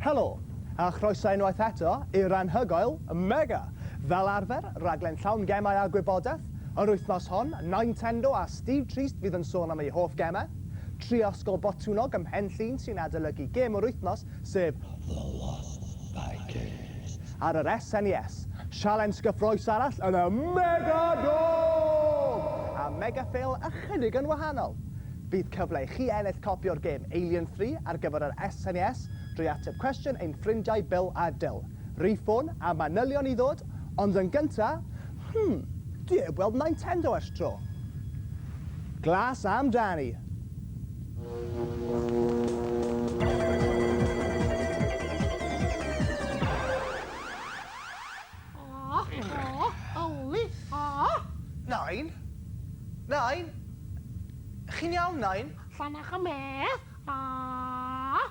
Helo, a chroeso unwaith eto i'r anhygoel Mega! Fel arfer, rhaglen llawn gemau a gwybodaeth. Yr wythnos hon, Nintendo a Steve Trist fydd yn sôn am eu hoff gemau. Tri ysgol Botwnnog ym Mhen Llŷn sy'n adolygu gêm yr wythnos, sef The Lost Vikings. Ar yr SNES, sialens gyffrous arall yn y Mega Dome! A Mega Fail ychydig yn wahanol! Bydd cyfle i chi ennill copi o'r gêm Alien Three ar gyfer yr SNES drwy ateb cwestiwn ein ffrindiau Bill a Dil. Rhif ffôn a manylion i ddod, ond yn gyntaf, Hm, dwi heb weld Nintendo ers tro. Glas am dani. Nain? Nain? Chi'n iawn, Nain? Llanach y Mês?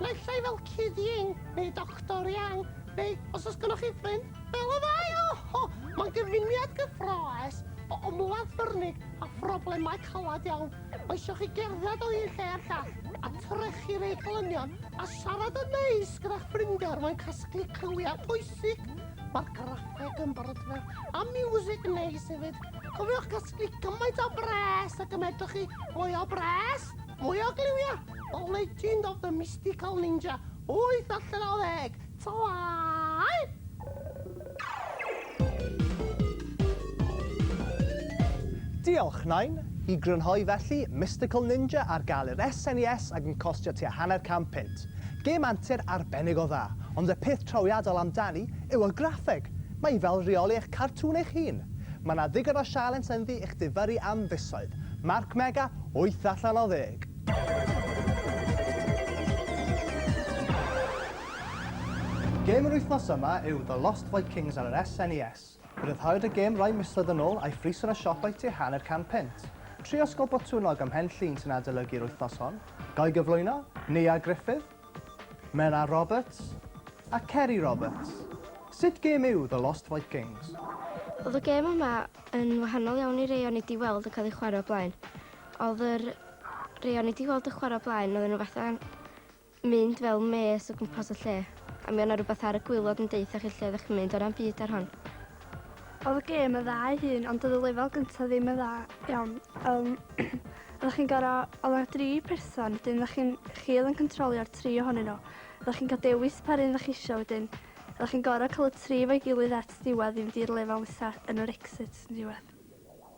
Naill ai fel Cyd Iing neu Doctor Iang, neu, os oes gennych chi ffrind, fel y ddau oho! Mae'n gyfuniad gyffrous o ymladd ffyrnig a phroblemau caled iawn. Mae eisiau chi gerdded o un lle i'r llall, a trechu'r eidlynion, a siarad yn neis gyda'ch ffrindiau er mwyn casglu cliwiau pwysig. Mae'r graffeg yn brydferth, a miwsig neis hefyd. Cofiwch gasglu gymaint o bres ag y medrwch chi, mwy o bres! Mwy o gliwia! The Legend of the Mystical Ninja, wyth allan o ddeg! Twaai! Diolch, Nain! I grynhoi felly, Mystical Ninja ar gael i'r SNES ac yn costio tua hanner can punt. Gêm antur arbennig o dda, ond y peth trawiadol amdani yw y graffeg! Mae hi fel rheoli eich cartŵn eich hun. Mae 'na ddigon o sialens ynddi i'ch difyrru am fisoedd. Mark Mega, wyth allan o ddeg. Gêm yr wythnos yma yw The Lost Vikings ar yr SNES. Rhyddhaodd y gêm rai misoedd yn ôl a'i phris yn y siopau tu hanner can punt. Tri osgol botwnnog ym Mhen Llŷn sy'n adolygu'r wythnos hon. Ga i gyflwyno? Nia Griffith? Menna Roberts a Ceri Roberts, sut gêm yw The Lost Vikings? Oedd y gêm yma yn wahanol iawn i rei o'n i 'di weld yn cael eu chwarae o blaen. Oedd yr rei o'n i 'di weld yn chwarae o blaen oedden nhw fatha'n mynd fel mês o gwmpas y lle a mi o' 'na rwbath ar y gwilod yn deuthach chi lle oeddech chi'n mynd o' na'm byd ar hon. Oedd y gêm yn dda ei hun ond oedd y lefel gyntaf ddim yn dda iawn. Um, oeddech chi'n goro, oedd yna dri person, wedyn oeddech chi'n, chi oedd yn controlio'r tri ohonyn nhw. Oeddech chi'n cael dewis pa run oeddech chi eisiau wedyn. Oeddech chi'n goro cael y tri fo'i gilydd at ddiwedd i fynd i'r lefel nesaf yn yr exit yn diwedd.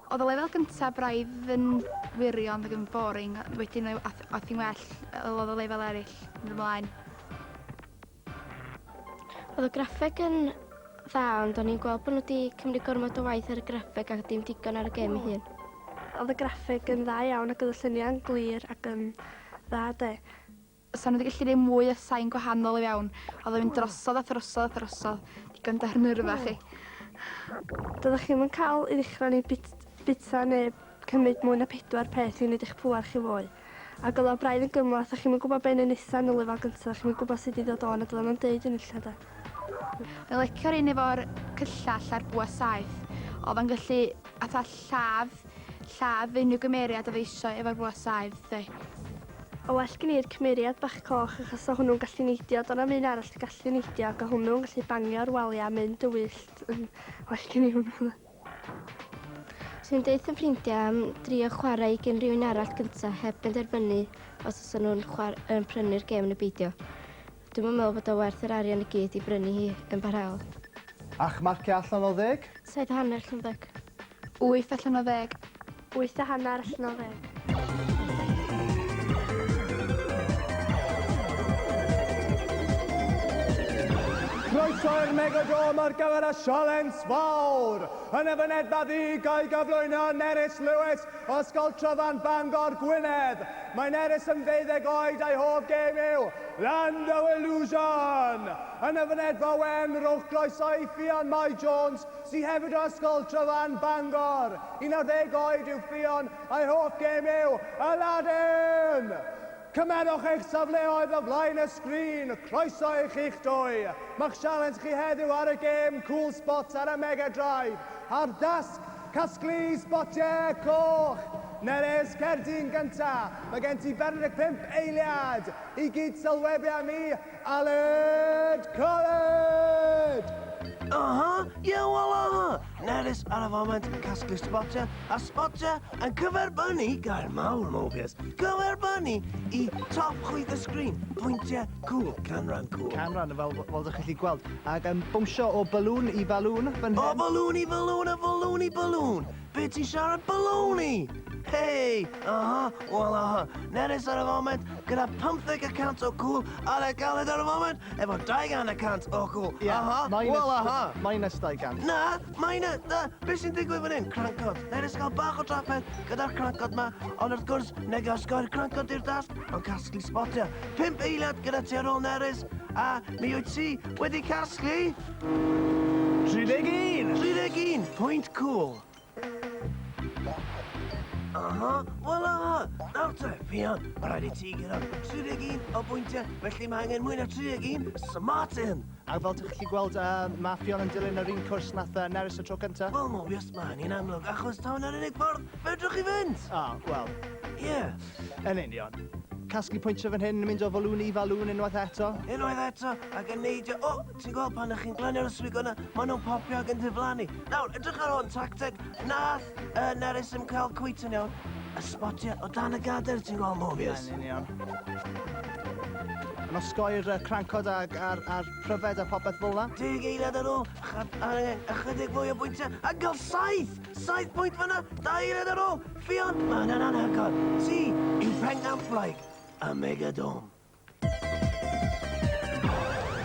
Oedd y lefel gyntaf braidd yn wirion, oedd yn boring, wedyn oedd hi'n well, oedd y lefel eraill yn ymlaen. Oedd y graffeg yn dda, ond o'n i'n gweld bod nhw wedi cymryd gormod o waith ar y graffeg a dim digon ar y gêm ei hun. Oedd y graffeg yn dda iawn ac oedd y lluniau'n glir ac yn dda de. Sa nhw wedi gallu gwneud mwy o sain gwahanol iawn. Oedd o'n mynd drosodd a throsodd a throsodd. Digon da ar nyrfa chi. Doeddech chi'm yn cael i ddechrau neu bit- bita neu cymryd mwy na pedwar peth i wneud eich pŵer chi fwy agos a braidd yn gymhleth, dach chi'm yn gwybod be' i neud nesa yn y lefel gynta, dach chi'm yn gwybod sut i ddod o 'na dyla nhw'm deud hyn ella 'de? Fi'n licio'r un efo'r cyllell a'r bwa saeth. O fe'n gallu fatha lladd lladd unrhyw gymeriad o fe eisiau efo'r bwa saeth 'de. O well gen i'r cymeriad bach coch achos o hwnnw'n gallu neidio, do' 'na'm un arall sy'n gallu neidio ac o hwnnw'n gallu bangio'r walia a mynd yn wyllt yn well gen i hwnnw 'na. Swn i'n deutha ffrindiau am drio chwarae i gen rhywun arall gyntaf heb benderfynu os oes nhw'n um, prynu'r gêm neu beidio. Dwi'n yn meddwl bod o werth yr arian i gyd i brynu hi yn barhaol. A'ch marciau allan o ddeg? Saith hanner llynfeg. Wyth allan o ddeg. Wyth a hanner allan o ddeg. Croeso i'r Megadome ar gyfer y sialens fawr. Yn y fynedfa ddu, gael gyflwyno Nerys Lewis o Ysgol Tryfan Bangor, Gwynedd. Mae Nerys yn ddeuddeg oed a'i hoff gêm yw Land of Illusion. Yn y fynedfa wen, rhowch groeso i Ffion Mai Jones sydd hefyd o Ysgol Tryfan, Bangor. 11 oed yw Ffion a'i hoff gêm yw Aladdin! Cymerwch eich safleoedd o flaen y sgrin, croeso i chi'ch dwy! Mae'ch sialens chi heddiw ar y gêm Cool Spots ar y Mega Drive a'r dasg Casglu Sbotiau Coch! Nerys, cer di'n gynta'! Mae gen ti 45 eiliad i gyd-sylwebu â mi Aled! Caled! Aha! Ie, wel aha! Nerys ar y foment yn casglu sbotiau, a sbotiau yn cyferbynnu gair mawr mogus. Cyferbynnu i top chwith y sgrin, pwyntiau cwl, canran cwl. Canran, fel, fel ydych chi'n gweld. Ac yn bwmsio o balŵn i balŵn fan hyn. O balŵn i balŵn, a balŵn i balŵn! Be ti'n siarad baloney? Hei! Aha, wel aha, Nerys ar y foment gyda 15 y cant o gŵl ar y galed ar y foment efo 200 y cant o gŵl. Ie, aha, minus, wel aha. Minus 200. Na, minus, na, beth sy'n digwydd fan hyn? Crancod. Nerys cael bach o trafferth gyda'r crancod ma, ond wrth gwrs, neg osgoi'r crancod i'r dasg, ond casglu spotio. 5 eiliad gyda ti ar ôl Nerys, a mi wyt ti wedi casglu... 31! 31! Pwynt cwl! Aha! Wel aha! Nawr te, Ffion, mae rhaid i ti gyrraedd 31 o bwyntiau, felly mae angen mwy na 31, so Martin! A fel ti'n gallu gweld, uh, mae Ffion yn dilyn yr un cwrs nath uh, Nerys y tro cyntaf. Wel, Mobius, mae hynny'n amlwg, achos tawn yr unig ffordd fedrwch chi fynd! Ah, oh, wel. Ie. Yeah. Yn union casglu pwyntiau fan hyn yn mynd o falŵn i falŵn unwaith eto. Unwaith eto, ac yn neidio... O! Ti'n gweld pan ych chi'n glanio'r yswig yna, maen nhw'n popio ac yn diflannu. Nawr, edrych ar hwn, tacteg, nath uh, Nerys yn cael cwyt yn iawn. A sbotiau o dan y gader, ti'n gweld movies? Yn union. Yn osgoi'r uh, crancod a'r, ar, ar pryfed a popeth fel yna. Deg eiliad ar ôl, ychydig fwy o bwyntiau, a gael saith! Saith bwynt fyna, da eiliad ar ôl, ffion, mae'n anhygoel. Si, yw Pengamplaig, a Megadome.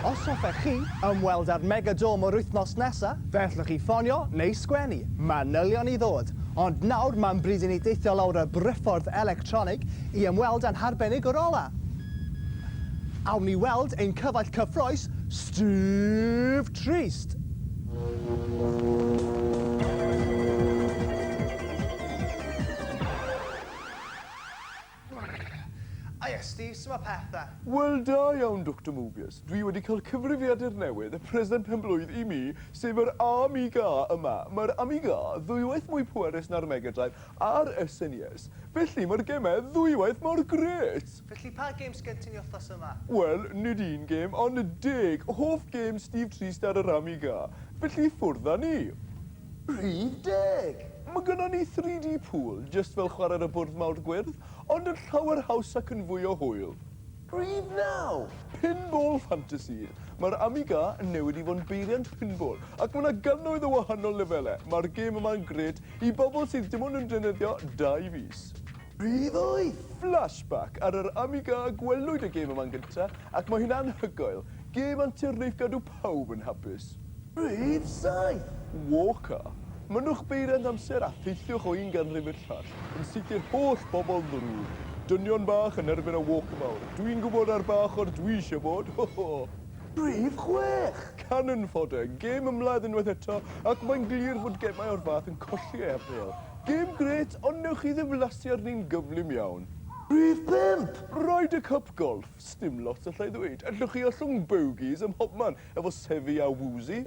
Os hoffech chi ymweld â'r Mega Dome yr wythnos nesa', fe allwch chi ffonio neu sgwennu manylion i ddod, ond nawr mae'n bryd i ni deithio lawr y briffordd electronig i ymweld â'n harbenigwr ola'. Awn ni weld ein cyfaill cyffrous, Steve Trist. O ie, Steve, su' ma' pethe? Wel, da iawn, Doctor Mobius. Dwi wedi cael cyfrifiadur newydd, y present pen-blwydd i mi, sef yr Amiga yma. Mae'r Amiga ddwywaith mwy pwerus na'r Mega Drive a'r SNES, felly mae'r gemau ddwywaith mor grêt! Felly, pa gêm sgen ti i ni wythnos yma? Wel, nid un gêm, ond deg hoff gêm Steve Trist ar yr Amiga. Felly, ffwrdd â ni! Rhif deg! Mae gynnon ni 3D pool, jyst fel chwarae ar y bwrdd mawr gwyrdd, ond yn llawer haws ac yn fwy o hwyl. Rhif naw! Pinball Fantasy! Mae'r Amiga yn newid i fod yn beiriant pinball, ac mae 'na gannoedd o wahanol lefelau. Mae'r gêm yma'n grêt i bobl sydd dim ond yn defnyddio dau fys. Rhif wyth! Flashback! Ar yr Amiga gwelwyd y gêm yma'n gynta, ac mae hi'n anhygoel. Gêm antur neith gadw Pawb yn hapus. Rhif saith. Walker. Mynnwch beiriant amser a theithiwch o un ganrif i'r llall, yn sicr holl bobl ddrwg. Dynion bach yn erbyn y walker mawr. Dwi'n gwybod ar ba ochr dwi isio bod, ho ho! Rhif chwech. Cannon Fodder. Gêm ymladd unwaith eto, ac mae'n glir fod gemau o'r fath yn colli ei apêl. Gêm grêt, ond newch chi ddiflasu arni'n gyflym iawn. Rhif pump. Ryder Cup Golff. Sdim lot alla i ddweud. Allwch chi ollwng bogies ym mhobman efo Sefyy a Woozy?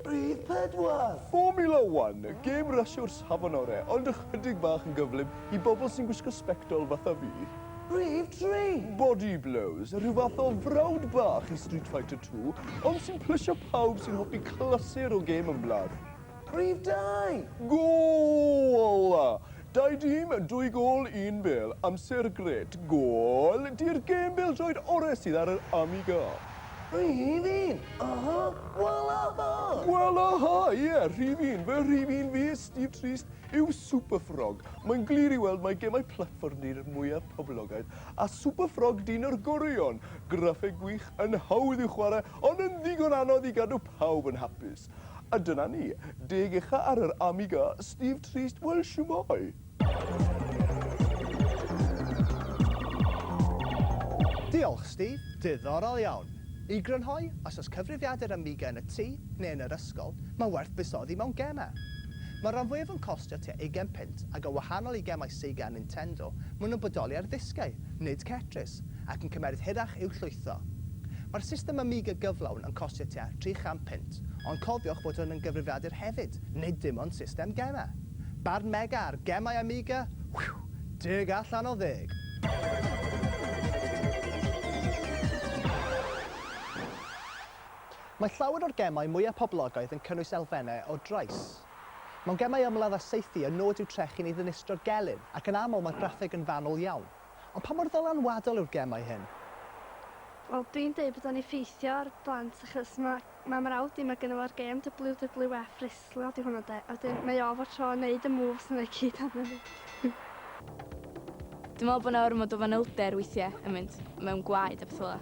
Rhif pedwar! Formula One, gêm rasio'r safon ore, ond ychydig bach yn gyflym i bobl sy'n gwisgo sbectol fatha fi. Rhif tri! Body Blows, rhyw fath o frawd bach i Street Fighter Two, ond sy'n plysio pawb sy'n hoffi clasur o gêm ymladd. Rhif dau! Goala! Dau dîm yn dwy gôl un bêl, amser grêt, gôl di'r gêm bêl-droed orau sydd ar yr Amiga. Rhif un! Aha! Gwala ha! Gwala ha! Ie, rhif un, fy rhif un fi, Steve Trist, yw Super Frog. Mae'n glir i weld mai gemau platfform di'r mwyaf poblogaidd, a Super Frog dyn o'r goreuon. Graffeg gwych, yn hawdd i'w chwarae, ond yn ddigon anodd i gadw pawb yn hapus. A dyna ni, deg ucha ar yr Amiga, Steve Trist, wel shwmae? Diolch, Steve. Diddorol iawn. I grynhoi, os oes cyfrifiadur Amiga yn y tŷ, neu yn yr ysgol, mae'n werth buddsoddi mewn gemau. Mae'r rhan fwyaf yn costio tua ugain punt, ac yn wahanol i gemau Sega a Nintendo, maen nhw'n bodoli ar ddisgau, nid cetris. Ynys ac yn cymeryd hirach i'w llwytho. Mae'r system Amiga gyflawn yn costio tua 300 punt, ond cofiwch fod hwn yn gyfrifiadur hefyd, nid dim ond system gemau. Barn Mega ar gemau Amiga? Whew! Deg allan o ddeg! Mae llawer o'r gemau mwyaf poblogaidd yn cynnwys elfennau o drais. Mewn gemau ymladd a saethu y nod yw trechu neu ddinistrio gelyn, ac yn aml mae'r graffeg yn fanwl iawn. Ond pa mor ddylanwadol yw'r gemau hyn? Wel dwi'n deud bod o'n effeithio ar blant achos ma' ma' mrawd i ma' gynno fo'r gêm WWF wrestlo 'di hwnna 'de a wedyn mae o fo tro yn neud y moves yna i gyd arno fi. Dwi'n me'wl bo' 'na ormod o fanylder weithie yn mynd mewn gwaed a petha fel 'a.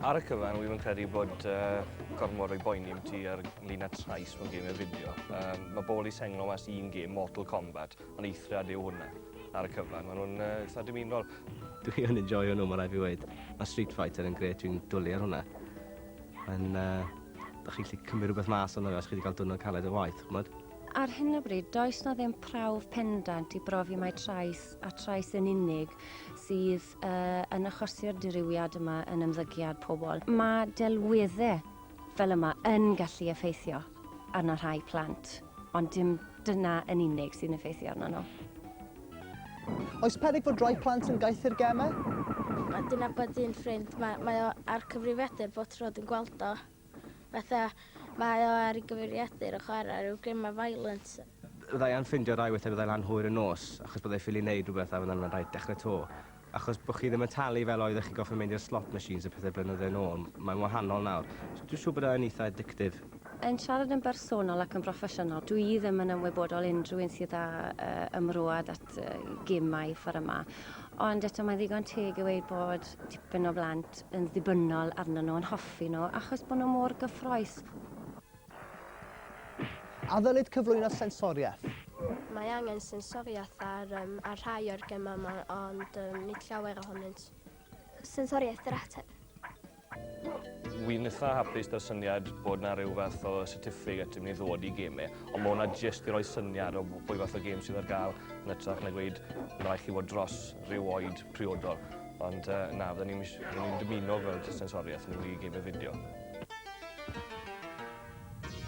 Ar y cyfan wi 'im yn credu bod yy gormo roi boeni am ti ar lun a trais mewn geme fideo. Yym ma' bol i senglo mas un gêm Mortal Kombat. Ond eithriad yw hwnna ar y cyfan, maen nhw'n eitha dymunol. Dwi yn enjoio nhw, mae rhaid fi weud. Mae Street Fighter yn gret, dwi'n dwlu ar hwnna. Mae'n... Uh, da chi'n gallu cymryd rhywbeth mas o'n fe os chi wedi cael diwrnod caled o waith, chymod? Ar hyn o bryd, does na ddim prawf pendant i brofi mai trais a trais yn unig sydd uh, yn achosi'r dirywiad yma yn ymddygiad pobl. Mae delweddau fel yma yn gallu effeithio. arno rhai plant, ond dim dyna yn unig sy'n effeithio arno nhw. Oes peryg fod rhai plant yn gaethu'r gemau? Mae dyn abod un ffrind, mae, mae o ar cyfrifiadur bod tro dwi'n gweld o. Fatha, mae o ar ei gyfrifiadur yn chwarae rhyw gemau violent. Byddai anffindio rhai weithiau byddai lan hwyr y nos, achos byddai ffili wneud rhywbeth a fyddai'n rhaid dechrau to. Achos bod chi ddim yn talu fel oeddech chi'n gorfod mynd i'r slot machines a pethau blynydde yn ôl, mae'n wahanol nawr. So dwi'n siŵr bod e yn eitha' addictive. Yn siarad yn bersonol ac yn broffesiynol, dw i ddim yn ymwybodol unrhyw un sydd â ymrwad at gêmau fforymau. Ond eto mae'n ddigon teg i ddweud bod tipyn o blant yn ddibynnol arnyn nhw, yn hoffi nhw, achos bod nhw mor gyffrous. A ddylid cyflwyno sensoriaeth? Mae angen sensoriaeth ar, um, ar rhai o'r gemau yma, ond um, nid llawer ohonynt. Sensoriaeth yr ateb. Wy'n eitha hapus da syniad bod na rhyw fath o certificate yn mynd i ddod i gemau, ond mae hwnna jyst i roi syniad o bwy fath o gêm sydd ar gael yn ytrach na gweud yn rhaid chi fod dros rhyw oed priodol. Ond uh, na, fydden ni'n ni dymuno gweld sensoriaeth yn mynd i gemau fideo.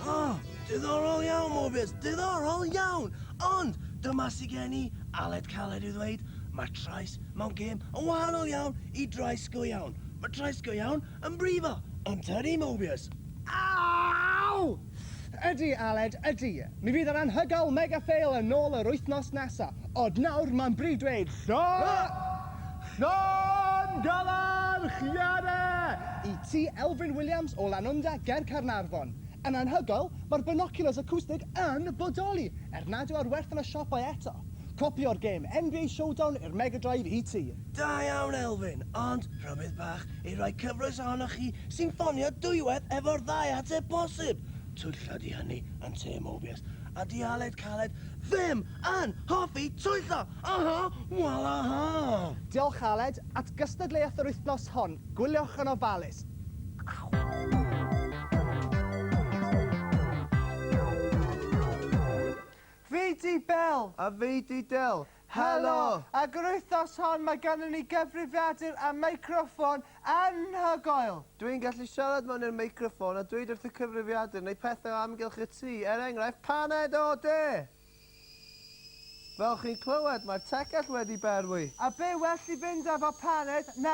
Oh! Diddorol iawn, Morbius! Diddorol iawn! Ond, dyma sy gen i, Aled Caled i'w ddweud, mae trais mewn gêm yn wahanol iawn i drais go iawn. Mae trais go iawn yn brifo, yn tydi, Morbius? Aww! Ffff, ydy Aled, ydy. Mi fydd yr anhygoel Mega Fail yn ôl yr wythnos nesa, ond nawr mae'n bryd dweud llon-! llongyfarchiade i ti Elfyn Williams o Lanwnda ger Caernarfon. Yn anhygoel, mae'r binoculars acoustic yn bodoli, er nad yw ar werth yn y siopau eto. Copi o'r gêm NBA Showdown i'r Mega Drive i ti. Da iawn Elfyn, ond rhybudd bach i rai cyfloes ohonoch chi sy'n ffonio dwywaith efo'r ddau ateb posib! Twyllo 'di hynny yn Te Mobius, a 'di Aled Caled ddim yn hoffi twyllo! Aha! Walaha! Diolch Aled, at gystadleuaeth yr wythnos hon, gwyliwch yn ofalus! Fi 'di Bel! A fi 'di Del! Helo! Ac yr wythnos hon mae ganddyn ni gyfrifiadur a meicroffon anhygoel! Dw i'n gallu siarad mewn i'r meicroffon a dweud wrth y cyfrifiadur wneud pethau o amgylch y tŷ, er enghraifft paned o de! Fel chi'n clywed, mae'r tegell wedi berwi. A be well i fynd efo paned na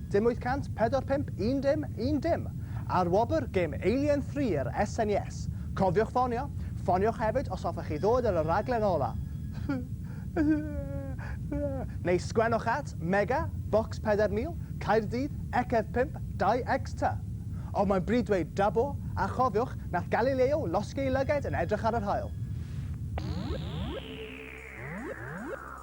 Dim 845 un dim, un dim! Ar wobr gêm Alien Three yr SNES. Cofiwch ffonio! Ffoniwch hefyd os hoffech chi ddod ar y rhaglen ola! Neu sgwennwch at, Mega, Bocs 4000, Caerdydd, Ecef 5, 2X ty! Ond mae'n bryd dweud Dabo, a chofiwch, nath Galileo losgi ei lygaid yn edrych ar yr haul!